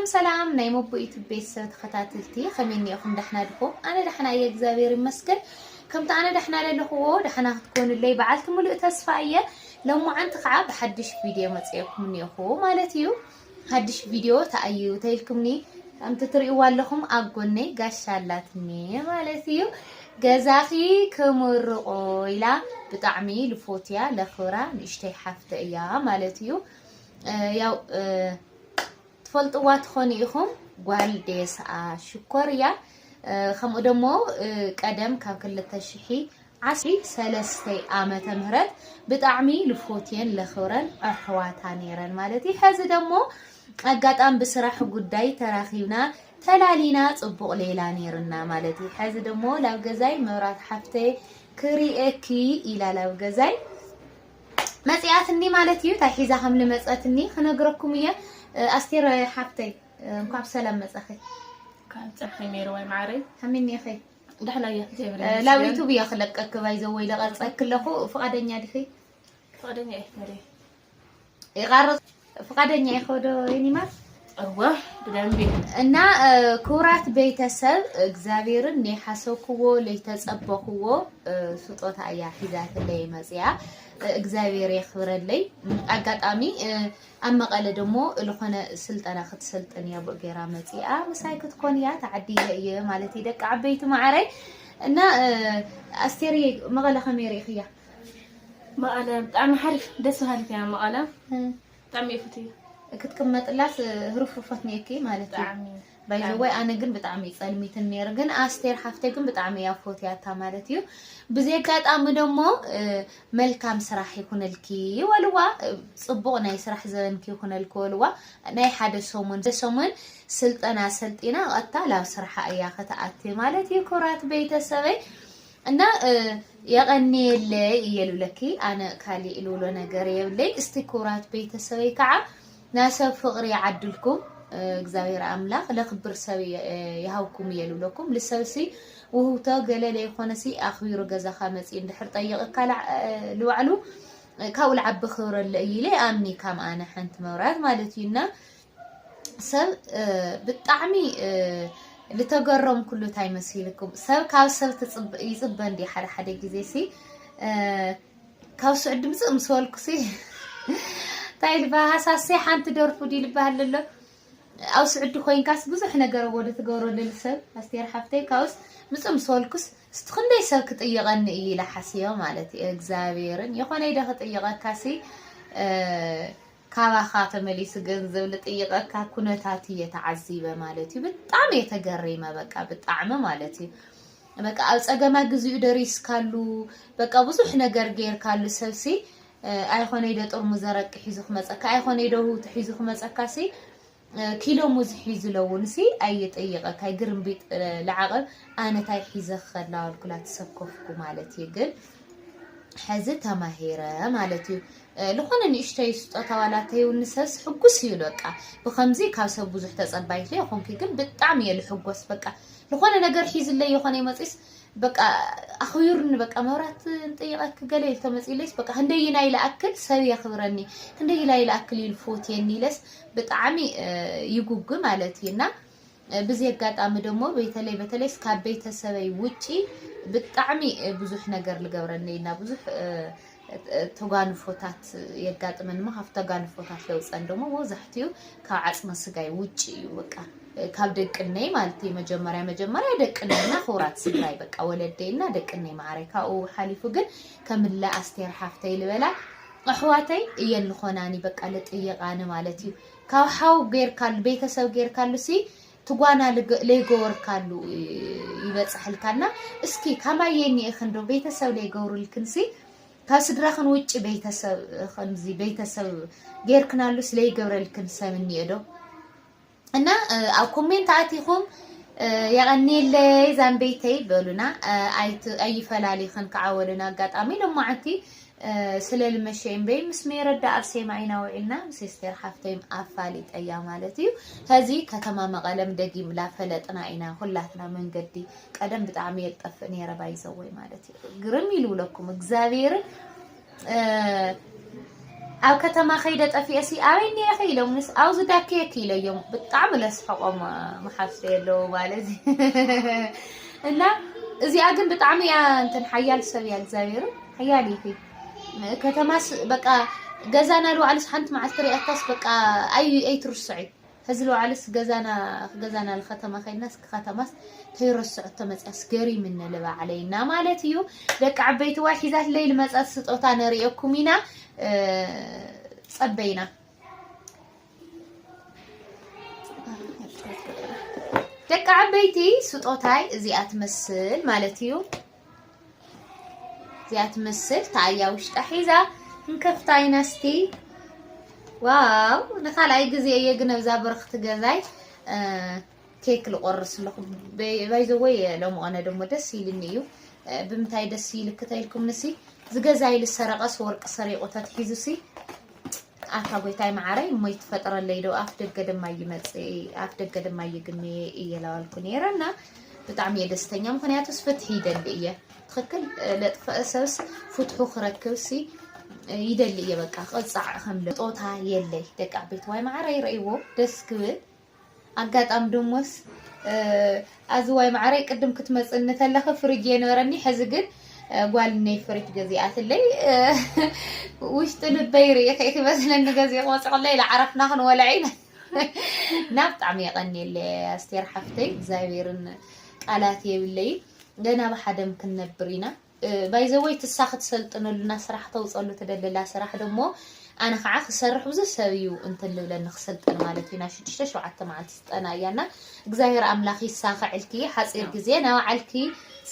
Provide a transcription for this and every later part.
ሰላም ሰላም ናይ ሞቦ ዩቱብ ቤተሰብ ተከታትልቲ ከመይ እኒኤኩም ዳሕና ድኩም ኣነ ዳሕና እየ እግዚኣብሔር ይመስገን ከምቲ ኣነ ዳሕና ለለክዎ ዳሕና ክትኮኑለይ በዓልቲ ሙሉእ ተስፋ እየ ሎማዓንቲ ከዓ ብሓድሽ ቪድዮ መፅኤኩም እኒኤኩ ማለት እዩ ሓድሽ ቪድዮ ተኣዩ ተይልኩምኒ ከምቲ ትሪእዋ ኣለኩም ኣብ ጎነይ ጋሻ ኣላትኒ ማለት እዩ ገዛኺ ክምርቆ ኢላ ብጣዕሚ ልፎትያ ለክብራ ንእሽተይ ሓፍተ እያ ማለት እዩ ያው ትፈልጥዋ ትኾኑ ኢኹም ጓል ዴስኣ ሽኮር እያ ከምኡ ደሞ ቀደም ካብ ክልተ ሽሒ ዓስሪ ሰለስተ ዓመተ ምህረት ብጣዕሚ ልፎትየን ለኽብረን ኣሕዋታ ነይረን ማለት እዩ ሐዚ ደሞ ኣጋጣም ብስራሕ ጉዳይ ተራኺብና ተላሊና ጽቡቕ ሌላ ነይርና ማለት እዩ ሐዚ ደሞ ላብ ገዛይ መብራት ሓፍተይ ክሪኤኪ ኢላ ላብ ገዛይ መጺኣትኒ ማለት እዩ ታይ ሒዛ ከም ልመጸትኒ ክነግረኩም እየ ኣስቴር ሓፍተይ እንኳብ ሰላም መጸኺ ካብ ጸፍሒ ሜሩ ወይ ማዕረይ ከመይኒኺ ደሕና እየ እግዚኣብሔር ላብ ዩቱብ እየ ክለቀክ ባይዘወይ ለቀጸክ ኣለኹ ፍቃደኛ ዲኺ ፍቃደኛ እየ ይቃርጽ ፍቃደኛ ኢኸ ዶ የኔ ማር? እወ ብደንቢ እና ክቡራት ቤተሰብ እግዚኣብሔርን ናይ ሓሰብክዎ ለይተፀበኽዎ ስጦታ እያ ሒዛትለይ መፅያ እግዚኣብሔር የኽብረለይ ኣጋጣሚ ኣብ መቐለ ደሞ ዝኾነ ስልጠና ክትሰልጥን እያ ብኡ ገይራ መፅኣ ምሳይ ክትኮን እያ ተዓዲለ እየ ማለት እዩ ደቂ ዓበይቲ ማዕረይ እና ኣስቴርየ መቐለ ከመይ ርኢኽያ መቐለ ብጣዕሚ ሓሪፍ ደስ በሃሊት እያ መቐለ ብጣዕሚ እየ ፍትያ ክትቅመጥላስ ህርፉፈት ኔኪ ማለት እዩ ባይዘወይ ኣነ ግን ብጣዕሚ እዩ ጸልሚትን ነይሩ ግን ኣስቴር ሓፍተይ ግን ብጣዕሚ እያ ፎትያታ ማለት እዩ ብዚ ኣጋጣሚ ደሞ መልካም ስራሕ ይኹነልኪ ወልዋ ጽቡቕ ናይ ስራሕ ዘበንኪ ይኹነልኪ ወልዋ ናይ ሓደ ሰሙን ሰሙን ስልጠና ሰልጢና ቀጥታ ላብ ስራሓ እያ ከተኣቲ ማለት እዩ ክብራት ቤተሰበይ እና የቐንየለይ እየ ልብለኪ ኣነ ካሊእ ልብሎ ነገር የብለይ እስቲ ክብራት ቤተሰበይ ከዓ ናይ ሰብ ፍቕሪ ይዓድልኩም እግዚኣብሔር ኣምላኽ ለክብር ሰብ ይሃብኩም እየ ልብለኩም ልሰብሲ ውህብቶ ገለ ለይኮነሲ ኣኽቢሩ ገዛኻ መፂ እንድሕር ጠይቕካ ልባዕሉ ካብኡ ልዓቢ ክብረ ኣሎ እዩ ኢለ ኣምኒ ካም ኣነ ሓንቲ መብራት ማለት እዩ እና ሰብ ብጣዕሚ ዝተገረምኩሉ እንታይ መሲልኩም ሰብ ካብ ሰብ ይፅበ እንዲ ሓደ ሓደ ግዜ ሲ ካብ ስዑ ድምፂ ምስ በልኩ ሲ እንታይ ልባ ሃሳሲ ሓንቲ ደርፉ ድዩ ልባሃል ኣሎ ኣብ ስዑዲ ኮይንካስ ብዙሕ ነገር ወደ ትገብረሉ ሰብ ኣስቴር ሓፍተይ ካብስ ምፅ ምስ በልኩስ እስቲ ክንደይ ሰብ ክጥይቐኒ እዩ ኢለ ሓስዮ ማለት እዩ እግዚኣብሔርን የኾነ ኢደ ክጥይቐካሲ ካባኻ ተመሊሱ ገንዘብ ልጥይቀካ ኩነታት እየ ተዓዚበ ማለት እዩ ብጣዕሚ እየ ተገሪመ በቃ ብጣዕሚ ማለት እዩ በቃ ኣብ ጸገማ ግዚኡ ደሪስካሉ በቃ ብዙሕ ነገር ጌርካሉ ሰብሲ ኣይኾነይ ዶ ጥርሙዝ ኣረቂ ሒዙ ክመጸካ ኣይኾነይ ዶ ህውቲ ሒዙ ክመጸካሲ ኪሎ ሙዝ ሒዙ ለውንሲ ኣይጠይቐካይ ግርምቢጥ ለዓቐብ ኣነታይ ሒዘ ክኸድ ላዋልኩላ ተሰከፍኩ ማለት እዩ ግን ሕዚ ተማሂረ ማለት እዩ ዝኾነ ንእሽተይ ስጦታ ዋላ ተይውኒ ሰብስ ሕጉስ እዩ በቃ ብከምዚ ካብ ሰብ ብዙሕ ተፀባይት ዶ ይኮንኩ ግን ብጣዕሚ እየ ልሕጎስ በቃ ዝኾነ ነገር ሒዝለይ ይኾነ ይመፅስ በቃ ኣኽቢሩኒ በቃ መብራት ንጠይቀኪ ገለ ኢልቶ መፅኢለይስ በቃ ክንደይ ኢላ ይልኣክል ሰብ የኽብረኒ ክንደይ ኢላ ይልኣክል ኢሉ ፎትየኒ ኢለስ ብጣዕሚ ይጉጉ ማለት እዩ እና ብዚ ኣጋጣሚ ደሞ በተለይ በተለይ ካብ ቤተሰበይ ውጪ ብጣዕሚ ብዙሕ ነገር ልገብረኒ እና ብዙሕ ተጓንፎታት የጋጥመን እሞ ካብ ተጓንፎታት ለውፀን ደሞ መብዛሕትኡ ካብ ዓፅመ ስጋይ ውጭ እዩ በቃ ካብ ደቅነይ ማለት እዩ መጀመርያ መጀመርያ ደቅነይና ክብራት ስድራይ በቃ ወለደይና ደቅነይ ማዕረ ካብኡ ሓሊፉ ግን ከምለ ኣስቴር ሓፍተይ ልበላ ኣሕዋተይ እየን ልኾናኒ በቃ ልጥይቃኒ ማለት እዩ ካብ ሓው ገይርካሉ ቤተሰብ ገይርካሉ ሲ ትጓና ለይገወርካሉ ይበፅሐልካና እስኪ ካማየኒ እኽን ዶ ቤተሰብ ለይገብሩልክን ሲ ካብ ስድራኽን ውጭ ቤተሰብ ከምዚ ቤተሰብ ገይርክናሉ ስለይገብረልክን ሰብ እኒኦ ዶ እና ኣብ ኮሜንት ኣቲኹም የቐኒየለይ ዛንበይተይ በሉና ኣይፈላሊኽን ከዓ ወልን ኣጋጣሚ ሎማዓንቲ ስለ ልመሸ እምበይ ምስ ሜረዳ ኣርሴማ ኢና ውዒልና ምስ ስቴር ሓፍተይም ኣፋሊጠያ ማለት እዩ ሀዚ ከተማ መቐለም ደጊም ላፈለጥና ኢና ሁላትና መንገዲ ቀደም ብጣዕሚ የልጠፍእ ነይረ ባይዘወይ ማለት እዩ ግርም ይልብለኩም እግዚኣብሔርን ኣብ ከተማ ከይደ ጠፊኤሲ ኣበይ እኒኤኺ ኢሎምኒስ ኣብዚ ዳኪየኪ ኢለዮም ብጣዕሚ ለስሕቖም መሓፍሰ የለዉ ማለት እና እዚኣ ግን ብጣዕሚ እያ እንትን ሓያል ሰብ እያ እግዚኣብሔር ሓያል እዩ ከተማስ በቃ ገዛና ልዋዕልስ ሓንቲ መዓልቲ ሪኣካስ በቃ ኣይ ኣይትርስዑ ሐዚ ልባዕልስ ገዛና ገዛና ልከተማ ከይድና እስኪ ከተማስ ተይረስዐቶ መፅያስ ገሪምኒ ልባዕለይ እና ማለት እዩ ደቂ ዓበይቲ ዋይ ሒዛትለይ ልመፀት ስጦታ ነሪኤኩም ኢና ፀበይና ደቂ ዓበይቲ ስጦታይ እዚኣ ትመስል ማለት እዩ እዚኣ ትመስል ተኣያ ውሽጣ ሒዛ እንከፍታ ኢና እስቲ ዋው ንካልኣይ ግዜ እየ ግን ኣብዛ ብርኽቲ ገዛይ ኬክ ልቆርስ ኣለኹ ባይዘወይ ሎሚ ቐነ ደሞ ደስ ኢልኒ እዩ ብምንታይ ደስ ኢልክ ተኢልኩም ንሲ ዝገዛይ ልሰረቐስ ወርቂ ሰሪቑ ተትሒዙሲ ኣታ ጎይታይ መዓረይ እሞ ይትፈጥረለይ ዶ ኣፍ ደገ ድማ ይመጽእ ኣፍ ደገ ድማ ይግነ እየ ላዋልኩ ነይረ እና ብጣዕሚ እየ ደስተኛ ምክንያቱስ ፍትሒ ይደሊ እየ ትክክል ለጥፈእ ሰብስ ፍትሑ ክረክብሲ ይደሊ እየ በቃ ቅፃዕ ከምለ ጦታ የለይ ደቂ ቤት ዋይ መዓረይ ረእይዎ ደስ ክብል ኣጋጣም ድሙስ ኣዝዋይ ማዓረይ ቅድም ክትመፅኒ ተለኺ ፍርጅ እየ ነበረኒ ሕዚ ግን ጓልነይ ፍርጅ ገዚኣትለይ ውሽጢ ልበይ ርኢኺ ኢኺ መስለኒ ገዚእ ወፅዕለይ ላዓረፍና ክንወልዕ ኢና ናብ ብጣዕሚ የቐኒየለይ ኣስቴር ሓፍተይ እግዚኣብሔርን ቃላት የብለይ ገና ብሓደም ክንነብር ኢና ባይ ዘ ወይ ትሳ ክትሰልጥነሉና ስራሕ ክተውፀሉ ትደልላ ስራሕ ደሞ ኣነ ከዓ ክሰርሕ ብዙ ሰብ እዩ እንትን ልብለኒ ክስልጠን ማለት እዩ ናብ ሽዱሽተ ሸውዓተ መዓልቲ ስልጠና እያ እና እግዚኣብሔር ኣምላኽ ይሳኸዕልኪ ሓፂር ግዜ ናብ ዓልኪ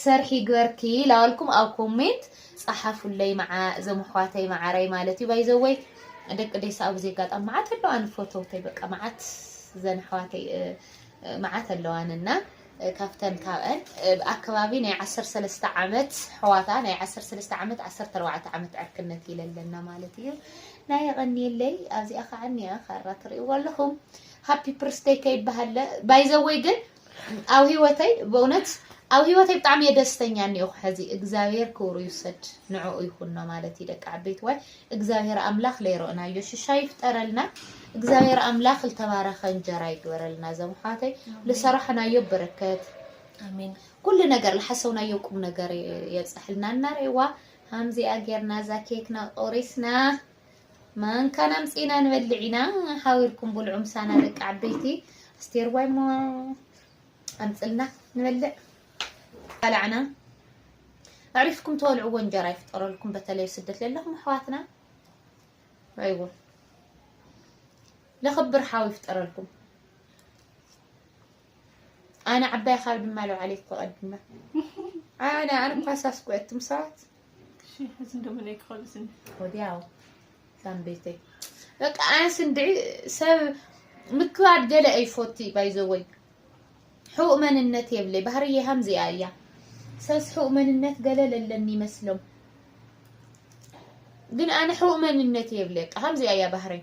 ሰርሒ ይግበርኪ ላዋልኩም ኣብ ኮሜንት ፀሓፉለይ መዓ እዞም ኣሕዋተይ መዓረይ ማለት እዩ ባይ ዘ ወይ ደቂ ዴሳ ኣብዚ ኣጋጣሚ መዓት ኣለዋን ፈተውተይ በቃ መዓት ዘን ኣሕዋተይ መዓት ኣለዋን እና ካብተን ካብኣን ብ ኣከባቢ ናይ ዓሰርተ ሰለስተ ዓመት ኣሕዋታ ናይ ዓሰርተ ሰለስተ ዓመት ዓሰርተ ኣርባዕተ ዓመት ዕርክነት ኢለ ኣለና ማለት እዩ ናይ የቐንየለይ ኣብዚኣ ከዓ እኒኣ ካራ ትርእይዎ ኣለኹም ሃፒ ፕርስደይ ከይበሃለ ባይዘወይ ግን ኣብ ህይወተይ በእውነት ኣብ ህይወተይ ብጣዕሚ እየ ደስተኛ እኒኦኹ ሕዚ እግዚኣብሔር ክብሩ ይውሰድ ንዕኡ ይኹኖ ማለት እዩ ደቂ ዓበይትዋይ እግዚኣብሔር ኣምላክ ለይሮእናዮ ሽሻይ ይፍጠረልና እግዚኣብሔር ኣምላክ ልተባረከ እንጀራ ይግበረልና ዘም ኣሕዋተይ ልሰራሕናዮ በረከት ኣሜን ኩሉ ነገር ልሓሰውናዮ ቁም ነገር የብፀሐልና እናሬዋ ሃምዚኣ ጌርና እዛ ኬክና ቆሪስና ማንካና ኣምፂና ንበልዕ ኢና ሓቢርኩም ብልዑ ምሳና ደቂ ዓበይቲ ኣስቴር ዋይሞ ኣምጽልና ንበልዕ ባላዕና ኣዕሪፍኩም ተወልዕዎ እንጀራ ይፍጠረልኩም በተለይ ስደት ለለኹም ኣሕዋትና ኣይዎ ለኽብር ሓው ይፍጠረልኩም ኣነ ዓባይ ካብ ድማ ለውዓለይኮ ቀድመ ኣነ ኣነ ኳሳስኩ እትም ሰባት እሺ እዚ እንደምን ኣይክኸልስን ወዲያው ሳም ቤተይ በቃ ኣንስ እንድዒ ሰብ ምክባድ ገለ ኣይፎቲ ባይዘወይ ሕውእ መንነት የብለይ ባህርየ ሃምዚኣ እያ ሰስ ሕውእ መንነት ገለ ለለኒ ይመስሎም ግን ኣነ ሕውእ መንነት የብለይ በቃ ሃምዚኣ እያ ባህረይ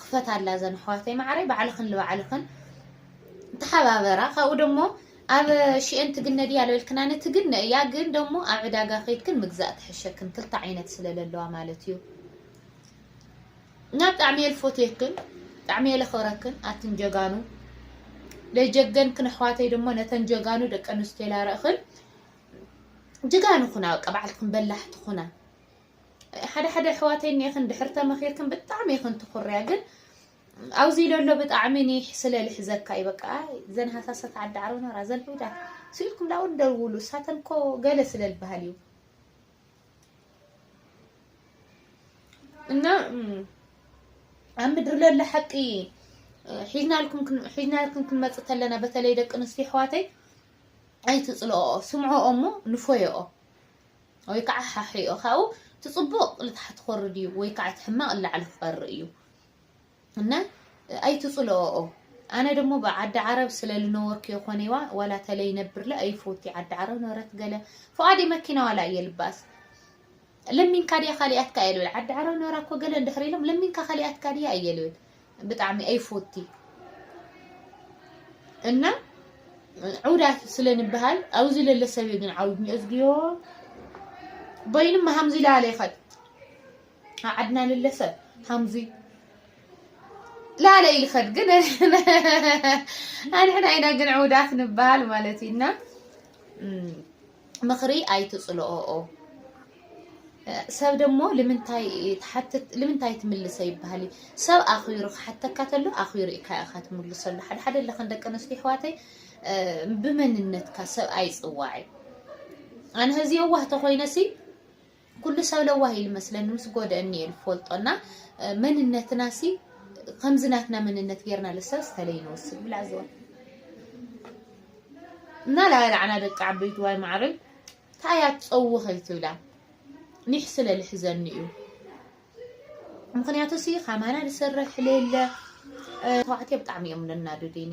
ክፈታላ እዘን ኣሕዋተይ ማዓረይ ባዕልኽን ልባዕልኽን ተሓባበራ ካብኡ ደሞ ኣብ ሽኤን ትግነ ድያ ልበልክና ንትግነ እያ ግን ደሞ ኣብ ዕዳጋ ከይድክን ምግዛእ ትሕሸክን ክልተ ዓይነት ስለለለዋ ማለት እዩ ናብ ጣዕሚ የልፎትየክን ጣዕሚ የለኽብረክን ኣትን ጀጋኑ ለጀገንክን ኣሕዋተይ ደሞ ነተን ጀጋኑ ደቂ ኣንስትዮ ላርእኽን ጅጋኑ ኹና በቃ በዓልትኽን በላሕቲ ኹና ሓደ ሓደ ኣሕዋተይ እኒኤኽን ድሕር ተመኺርክን ብጣዕሚ ኢኽን ትኹርያ ግን ኣብዚ ለሎ ብጣዕሚ ኒሕ ስለ ልሕዘካ እዩ በቃ ዘን ሃሳሳት ዓዲ ዓረብናራ ዘን ሑዳት ስኢልኩም ላውን ደውሉ እሳተን እኮ ገለ ስለ ልበሃል እዩ እና ኣብ ምድሪ ለሎ ሓቂ ሒዝናልኩም ሒዝናልኩም ክንመጽእ ተለና በተለይ ደቂ ኣንስትዮ ኣሕዋተይ ኣይትጽልኦ ስምዖኦ እሞ ንፎየኦ ወይ ከዓ ሓሒኦ ካብኡ እቲ ፅቡቅ ልታሕቲ ክወርድ እዩ ወይ ከዓ እቲ ሕማቅ ላዕሊ ክቀሪ እዩ እና ኣይትፅልኦኦ ኣነ ደሞ ብዓዲ ዓረብ ስለ ልነወርክ የኮነይዋ ዋላ ተለይ ነብርለ ኣይፎቲ ዓዲ ዓረብ ነበረት ገለ ፍቃዲ መኪና ዋላ እየ ልባስ ለሚንካ ድያ ካሊኣትካ እየ ልብል ዓዲ ዓረብ ነበራ እኮ ገለ እንድሕር ኢሎም ለሚንካ ካሊኣትካ ድያ እየ ልብል ብጣዕሚ ኣይፎቲ እና ዑዳት ስለ ንበሃል ኣብዚ ለለ ሰብ እዩ ግን ዓውድኒ እዝግዮ በይኑ ሃምዚ ላለ ይኸድ ዓድና ለለ ሰብ ሃምዚ ላለ ይኸድ ግን ኣንሕና ኢና ግን ዑዳት ንበሃል ማለት እዩና ምኽሪ ኣይትጽልኦኦ። ሰብ ደሞ ልምንታይ ትሓትት ልምንታይ ትምልሰ ይበሃል እዩ ሰብ ኣኽቢሩ ክሓተካ ተሎ ኣኽቢሩ ኢካ ኢኻ ትምልሰሉ ሓደ ሓደ ለኽን ደቂ ኣንስትዮ ኣሕዋተይ ብመንነትካ ሰብ ኣይጽዋዕ እዩ ኣነ ህዚ የዋህ ተኾይነሲ ኩሉ ሰብ ለዋህ ኢሉ መስለኒ ምስ ጎደእኒ እየ ልፈልጦ እና መንነትና ሲ ከምዚ ናትና መንነት ጌርና ልሰብ ዝተለይ ንወስድ ብላ ዝወ እና ላላዕና ደቂ ዓበይቲ ዋይ ማዕረይ ታያ ትፀውኺ ከይትብላ ኒሕ ስለ ልሕዘኒ እዩ ምክንያቱ ሲ ከማና ዝሰርሕ ለለ ተባዕትዮ ብጣዕሚ እዮም ለናዱዲኒ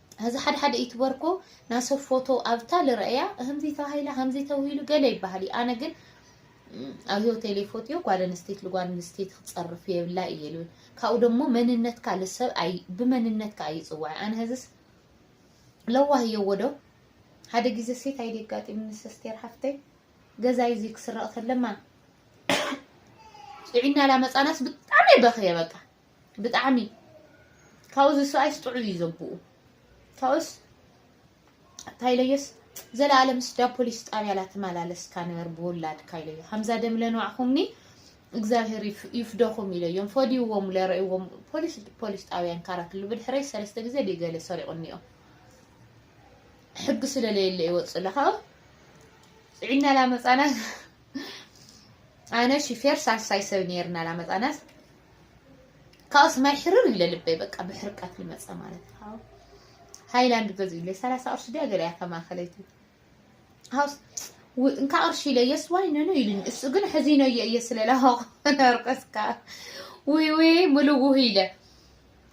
ሀዚ ሓደ ሓደ ዩቱበር እኮ ናይ ሰብ ፎቶ ኣብታ ልረእያ ከምዚ ተባሂላ ከምዚ ተብሂሉ ገለ ይበሃል እዩ ኣነ ግን ኣብ ሂወተይ ለይፎትዮ ጓል ኣንስተይቲ ልጓል ኣንስተይቲ ክፀርፍ የብላ እየ ልብል ካብኡ ደሞ መንነትካ ልሰብ ብመንነትካ እዩ ፅዋዕ ኣነ ሀዚስ ለዋህ እየ ወዶ ሓደ ጊዜ ሴት ኣይደ ኣጋጢሙ ምስ ኣስቴር ሓፍተይ ገዛይ እዚ ክስረቕ ተለማ ጥዒና ላመፃናስ ብጣዕሚ በኽየ በቃ ብጣዕሚ ካብኡ ዝስኣይስ ጥዑይ እዩ ዘቡኡ ካብኡስ እንታይ ኢለዮስ ዘላለም ስዳ ፖሊስ ጣብያ ላተመላለስካ ንበር ብውላድካ ኢለዮ ከምዛ ደም ለንዋዕኹምኒ እግዚኣብሔር ይፍደኹም ኢለዮም ፈዲዎም ለርእዎም ፖሊስ ፖሊስ ጣብያን ካራት ሉ ብድሕረይ ሰለስተ ግዜ ድገለ ሰሪቑኒዮ ሕጊ ስለለየለ ይወፅእ ለካ ፅዒና ላመፃና ኣነ ሽፌር ሳልሳይ ሰብ ነርና ላመፃናስ ካብኡስ ማይ ሕርር ይብለ ልበይ በቃ ብሕርቀት ልመፀ ማለት ሃው ሃይላንድ ገዝኡለይ ሰላሳ ቅርሺ ድያ ገለያ ከማኸለይቲ ሃውስ እንካ ቅርሺ ኢለ የስ ዋይ ነነ ኢሉኝ እሱ ግን ሕዚነየ እየ ስለላሃው ነርቀስካ ውይ ውይ ምልውህ ኢለ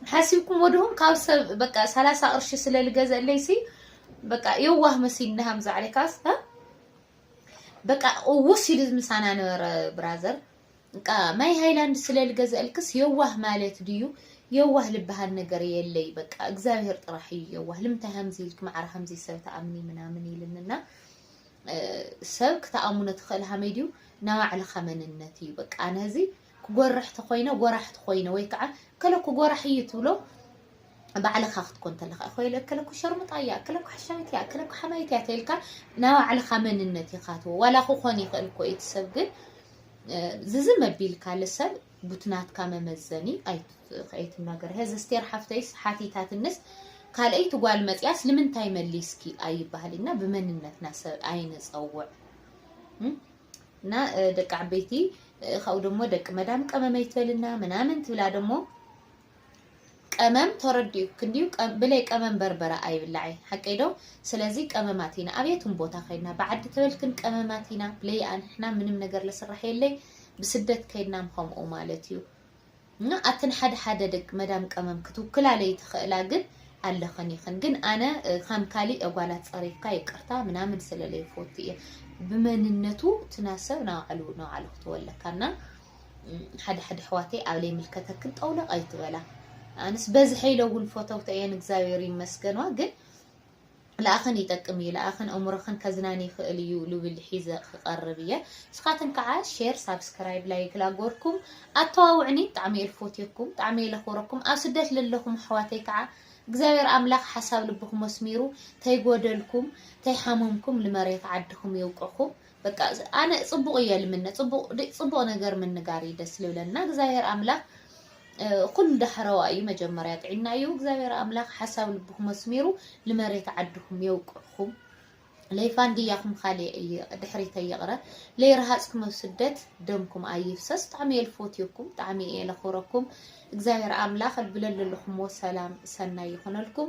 ሓሲብኩም ወድኹም ካብ ሰብ በቃ ሰላሳ ቅርሺ ስለልገዘለይሲ በቃ የዋህ መሲል ንሃምዛ ዓለይካስ በቃ ውስ ኢሉ ምሳና ነበረ ብራዘር በቃ ማይ ሃይላንድ ስለ ልገዘእልክስ የዋህ ማለት ድዩ የዋህ ልበሃል ነገር የለይ በቃ እግዚኣብሔር ጥራሕ እዩ የዋህ ልምንታይ ሃምዚ ኢልክ ማዕረ ሃምዚ ሰብ ተኣምኒ ምናምን ኢልንና ሰብ ክተኣሙኖ ትኽእል ሃመይ ድዩ ናይ ባዕልኻ መንነት እዩ በቃ ኣነ እዚ ክጎርሕ ተኾይነ ጎራሕ ተኾይነ ወይ ከዓ ከለኩ ጎራሕ እዩ ትብሎ ባዕልኻ ክትኮን ተለኻ እኮ ኢለ እከለ እኮ ሸርሙጣ እያ እከለ እኮ ሓሻዊት እያ እከለ እኮ ሓማይት እያ ተልካ ናይ ባዕልኻ መንነት ኢኻ ትዎ ዋላ ክኾን ይኽእል እኮ እቲ ሰብ ግን ዝዚ መቢልካ ልሰብ ቡትናትካ መመዘኒ ኣይትናገር ሄዚ ስቴር ሓፍተይስ ሓቲታትንስ ካልኣይቲ ጓል መፅያስ ልምንታይ መሊስኪ ኣይበሃል እና ብመንነትና ሰብ ኣይንፀውዕ እና ደቂ ዓበይቲ ካብኡ ደሞ ደቂ መዳም ቀመመ ይትበልና ምናምን ትብላ ደሞ ቀመም ተረዲኡ ክንድዩ ብለይ ቀመም በርበረ ኣይብላዕይ ሓቀይ ዶ ስለዚ ቀመማት ኢና ኣብ የቱም ቦታ ከይድና ብዓዲ ተበልክን ቀመማት ኢና ብለይ ኣንሕና ምንም ነገር ለስራሕ የለይ ብስደት ከይድናም ከምኡ ማለት እዩ እና ኣትን ሓደ ሓደ ደቂ መዳም ቀመም ክትውክላ ለይ ትኽእላ ግን ኣለኽን ይኽን ግን ኣነ ከም ካሊ እጓላት ጸሪፍካ ይቅርታ ምናምን ስለለይ ፎት እየ ብመንነቱ ትናሰብ ናባዕሉ ናባዕሉ ክትወለካና ሓደ ሓደ ኣሕዋተይ ኣብ ለይምልከተክን ጠውለቕ ኣይትበላ ኣንስ በዝሐ ኢለ እውን ፎተውተ እየን እግዚኣብሔር ይመስገንዋ ግን ለኣኸን ይጠቅም እዩ ለኣኸን እምሮኸን ከዝናን ይኽእል እዩ ልብል ሒዘ ክቐርብ እየ ንስኻትን ከዓ ሼር ሳብስክራይብ ላይክ ላጎርኩም ኣተዋውዕኒ ብጣዕሚ እየ ልፎትየኩም ብጣዕሚ እየ ለኽብረኩም ኣብ ስደት ለለኹም ኣሕዋተይ ከዓ እግዚኣብሔር ኣምላኽ ሓሳብ ልብኹም ኣስሚሩ ተይጎደልኩም ተይሓመምኩም ልመሬት ዓድኹም የውቅኹም በቃ ኣነ ጽቡቅ እየ ልምነ ጽቡቅ ድ- ጽቡቅ ነገር ምንጋር እዩ ደስ ልብለና እግዚኣብሔር ኣምላክ እ፣ ኩሉ ዳሕረዋ እዩ መጀመርያ ጥዒና እዩ እግዚኣብሔር ኣምላክ ሓሳብ ልብኩም ኣስሚሩ ንመሬት ዓድኩም የውቅዕኩም ለይፋንድያኹም ካሌ እየ- ድሕሪተ ይቕረ ለይረሃፅኩም ኣብ ስደት ደምኩም ኣይፍሰስ ብጣዕሚ እየ ልፎትየኩም ብጣዕሚ እየ ለኽብረኩም እግዚኣብሔር ኣምላኽ ልብለለለኹምዎ ሰላም ሰናይ ይኹነልኩም